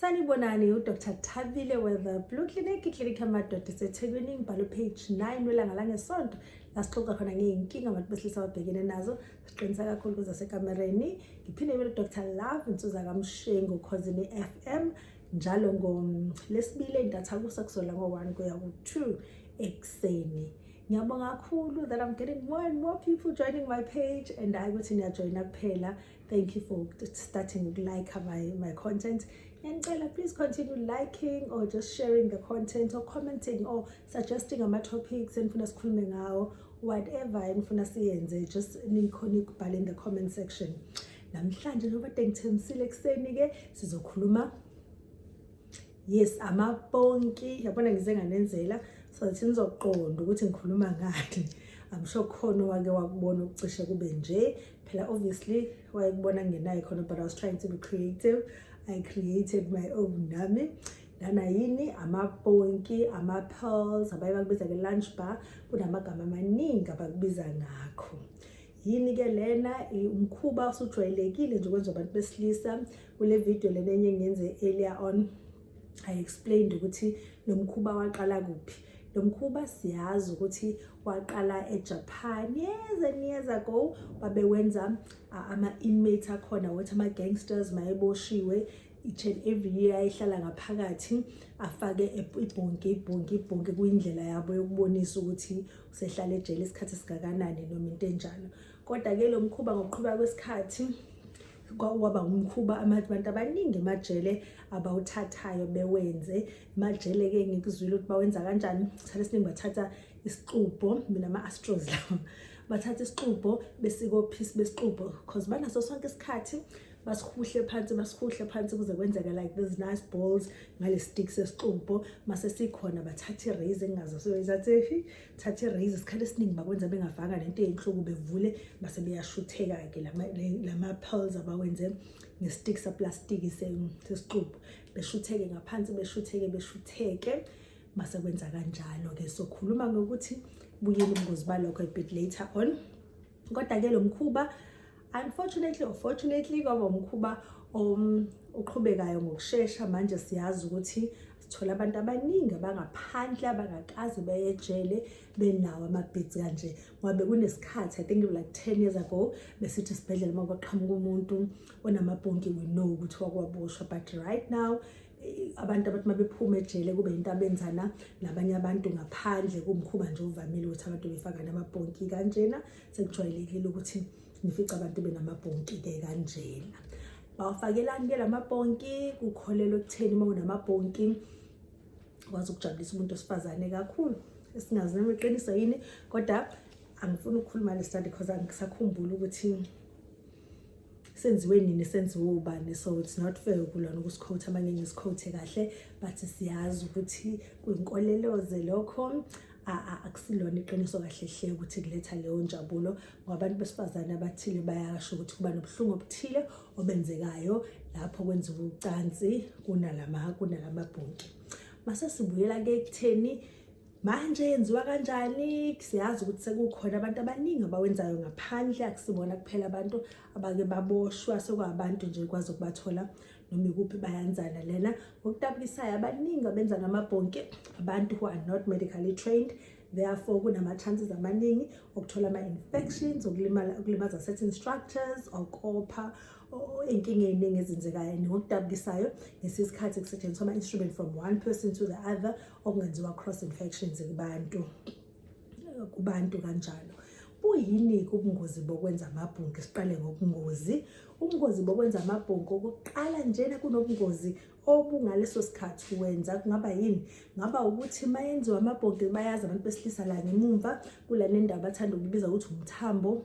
sanibonani udr thabile weather blue clinic iklinikhi yamadoda isethekwini ngibhalo page 9 welanga langesonto la sixoxa khona ngey'nkinga abantu besilisa ababhekene nazo siqinisa kakhulu kuza sekamereni ngiphinde ngibe udr love insuza kamshengu khozini f m njalo ngolesibili entatha kusa kuzola ngo-one kuya ku-two ekuseni ngiyabonga kakhulu that i'm getting more and more people joining my page and hayi ukuthi niyajoyina kuphela thank you for starting ukulike my, my content ngiyanicela please continue liking or just sharing the content or commenting or suggesting ama-topics enifuna sikhulume ngawo whatever enifuna siyenze just nikhona ukubhala in the comment section namhlanje njengoba de ngithembisile ekuseni-ke sizokhuluma yes amaponki yabona ngize nganenzela so that nizoqonda ukuthi ngikhuluma ngani I'm sure khona owake wakubona ukucishe kube nje phela obviously wayekubona ngenayo khona but I was trying to be creative I created my own nami lana yini amaponki ama-pearls abaye bakubiza nge-lunch bar kunamagama amaningi abakubiza ngakho yini-ke lena umkhuba osujwayelekile nje kwenza abantu besilisa kule video lena enye ngenze earlier on i explained ukuthi lo mkhuba waqala kuphi lo mkhuba siyazi ukuthi waqala ejapan years and years ago babewenza ama-inmate akhona wothi ama-gangsters mayeboshiwe each and every year ayihlala ngaphakathi afake ibhonki ibhonki ibhonki kuyindlela yabo yokubonisa ukuthi usehlala ejele isikhathi esingakanani noma into enjalo kodwa-ke lo mkhuba ngokuqhuba kwesikhathi kwaba umkhuba abantu abaningi emajele abawuthathayo bewenze majele-ke ngikuzwile ukuthi bawenza kanjani isikhathi esiningi bathatha isixubho mina ama-astros lawo bathatha isixubho besikophisi besixubho because banaso sonke isikhathi basihuhle phansi basihuhle phansi kuze kwenzeka like these nice balls ngale stick sesixubho mase sikhona bathatha iraise engingazasoyizathi thatha i-raise isikhathi esiningi bakwenza bengavanga lento eyinhloko bevule base beyashutheka-ke lama-pearls abawenze nge-stick saplastiki sesixubu beshutheke ngaphansi beshutheke beshutheke base kwenza kanjalo-ke sokhuluma ngokuthi buyile ubungozi balokho a bit later on kodwa-ke lo mkhuba Unfortunately or fortunately kwaba umkhuba um, oqhubekayo ngokushesha manje siyazi ukuthi sithola abantu abaningi abangaphandle abangakaze beyejele benawo amabhithi kanje ngoba bekunesikhathi i think like 10 years ago besithi sibhedlela uma kwaqhamuka umuntu onamabhonki we know ukuthi wakwaboshwa but right now abantu abathi uma bephuma ejele kube yinto abenzana nabanye abantu ngaphandle kumkhuba nje ovamile ukuthi abantu befakane amabhonki kanjena sekujwayelekile ukuthi ngifica abantu benamabhonki-ke kanjena bawafakelani-ke la mabhonki kukholelwa ekutheni uma unamabhonki kwazi ukujabulisa umuntu osifazane kakhulu esingazi noma iqiniso yini kodwa angifuni ukukhuluma le study because angisakhumbuli ukuthi senziwe nini senziwe ubani so it's not fair ukulona ukusikhotha uma ngeke ngisikhothe kahle but siyazi ukuthi kwinkoleloze lokho akusilona iqiniso kahle hle ukuthi kuletha leyo njabulo ngoba abantu besifazane abathile bayasho ukuthi kuba nobuhlungu obuthile obenzekayo lapho kwenziwa ucansi kunalama kunalama bhonki mase sibuyela ke ekutheni manje yenziwa kanjani siyazi ukuthi sekukhona abantu abaningi abawenzayo ngaphandle akusibona kuphela abantu abake baboshwa sekwabantu nje kwazi ukubathola noma ikuphi bayanzana lena ngokutabulisayo abaningi abenza ngamabhonke abantu who are not medically trained therefore kunama-chances amaningi okuthola ama-infections okulimaza certain structures okopha inkinga eyiningi ezenzekayo ngokudabukisayo ngesikhathi kusetshenziswa ama-instrument from one person to the other okungenziwa cross infections kubantu kubantu kanjalo buyini-ke ubungozi bokwenza amabhunki siqale ngobungozi ubungozi bokwenza amabhunki okuqala njena kunobungozi obungaleso sikhathi wenza kungaba yini ngaba ukuthi uma yenziwa amabhonki bayazi abantu besilisa la ngemumva kula nendawo bathanda ukubiza ukuthi umthambo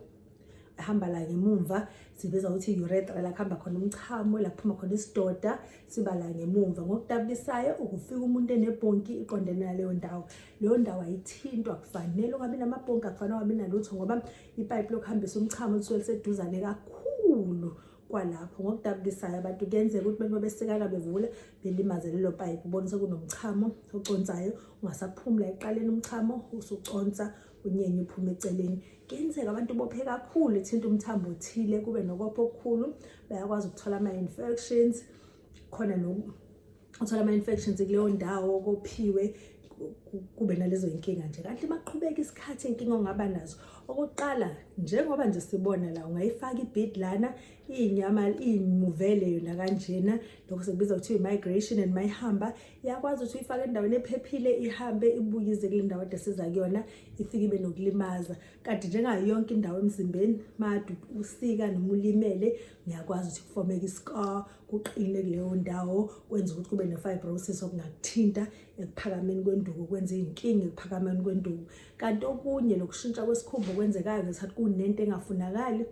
hamba la ngemumva sibiza ukuthi urethra la kuhamba khona umchamo la kuphuma khona isidoda siba la ngemumva ngokutabulisayo ukufika umuntu enebhonki iqondene naleyo ndawo leyo ndawo ayithintwa kufanele ungabi namabhonki akufanele ungabi nalutho ngoba ipayipi lokuhambisa umchamo lisuke liseduzane kakhulu kwalapho ngokudabukisayo abantu kuyenzeka ukuthi bento besikana bevula belimaze lelo payipi ubonise kunomchamo oconsayo ungasaphumula eqaleni umchamo usuconsa unyenye uphume eceleni kuyenzeka abantu bophe kakhulu ithinta umthambo othile kube nokopha okukhulu bayakwazi ukuthola ama-infections khona uthola ama-infections kuleyo ndawo kophiwe kube nalezo yinkinga nje kanti maqhubeka isikhathi inkinga ongaba nazo okokuqala njengoba nje sibona la ungayifaka ibid lana iyinyama iyimuvele yona kanjena lokho sekubiza ukuthi i-migration and mayihamba yakwazi ukuthi uyifake endaweni ephephile ihambe ibuye ize kule ndawo ade siza kuyona ifike ibe nokulimaza kanti njengayo yonke indawo emzimbeni madu usika noma ulimele niyakwazi ukuthi kufomeke iscar kuqine kuleyo ndawo kwenza ukuthi kube ne-fibrosis okungakuthinta ekuphakameni kwenduku kwenza iy'nkinga ekuphakameni kwenduku kanti okunye lokushintsha kwesikhumba okwenzekayo ngesikhathi kunento engafunakali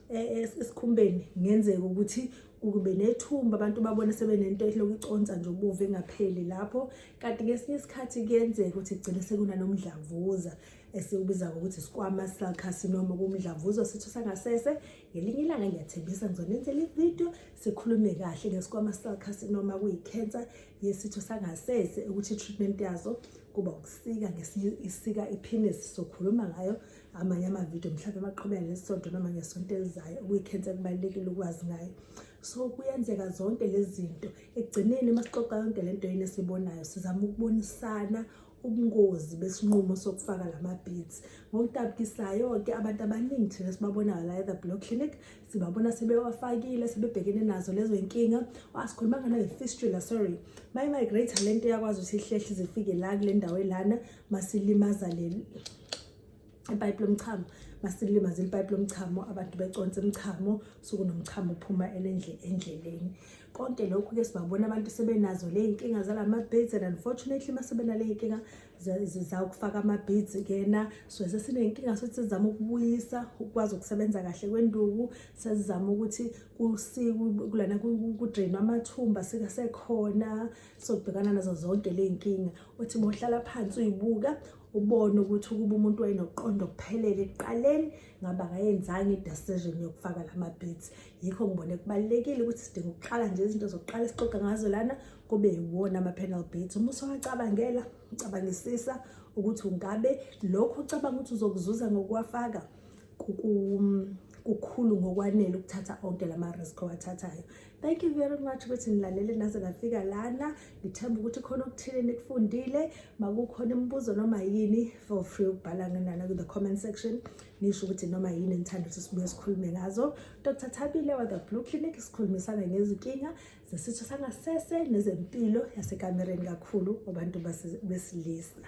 e, e, esikhumbeni ngenzeka ukuthi ukube nethumba abantu babone sebenento ehloku iconsa nje ubuve ngapheli lapho kanti ngesinye isikhathi kuyenzeka ukuthi kugcine sekunanomdlavuza esiwubiza ngokuthi sikwama cell carcinoma kumdlavuza sitho sangasese ngelinye ilanga ngiyathembisa ngizonenzela ividiyo sikhulume kahle ngesikwama cell carcinoma kuyicansa yesitho sangasese ukuthi i-treatment yazo kuba ukusika ngesinye isika iphinisi sokhuluma ngayo amanye amavidiyo mhlawumbe baqhubeka ngesonto noma ngesonto elizayo okuyikhensa kubalulekile ukwazi ngayo so kuyenzeka zonke lezi zinto ekugcineni uma sixoxa yonke le nto yini esibonayo sizama ukubonisana ubungozi besinqumo sokufaka la mabhithi ngokutabukisayo-ke abantu abaningi thina sibabonayo la ethe block clinic sibabona sebewafakile sebebhekene nazo lezo y'nkinga asikhuluma ngana nge-fistula sorry mayi-migrate le nto yakwazi ukuthi ihlehle zifike la kule ndawo elana masilimaza ipayipi lomchamo masilimaze ipayipi lomchamo abantu beconsa imchamo suku nomchamo uphuma elendle endleleni konke lokhu ke sibabona abantu sebenazo le inkinga zalama beads and unfortunately masebena le inkinga za ukufaka ama beads kena so sesinenkinga sokuthi sizama ukubuyisa ukwazi ukusebenza kahle kwenduku sesizama ukuthi kusiku kulana ku drain amathumba sika sekhona sokubhekana nazo zonke le inkinga uthi bohlala phansi uyibuka ubone ukuthi ukuba umuntu wayenokuqonda okuphelele ekuqaleni ngaba ngayenzanga i-decision yokufaka la ma-beats yikho ngibone kubalulekile ukuthi sidinga ukuqala nje izinto zokuqala esixoxa ngazo lana kube yiwona ama-panel beats uma usewacabangela ucabangisisa ukuthi ungabe lokho ucabanga ukuthi uzokuzuza ngokuwafaka kukhulu ngokwanele ukuthatha onke la ma-risk owathathayo Thank you very much ukuthi nilalele naze nafika lana. Ngithemba ukuthi khona okuthile nikufundile. Makukhona imibuzo noma yini for free ukubhala ngenana ku the comment section. Nisho ukuthi noma yini enithanda ukuthi sibuye sikhulume ngazo. Dr. Thabile wa the Blue Clinic sikhulumisana ngezinkinga zesitho sangasese nezempilo yasekamereni kakhulu abantu besilisa.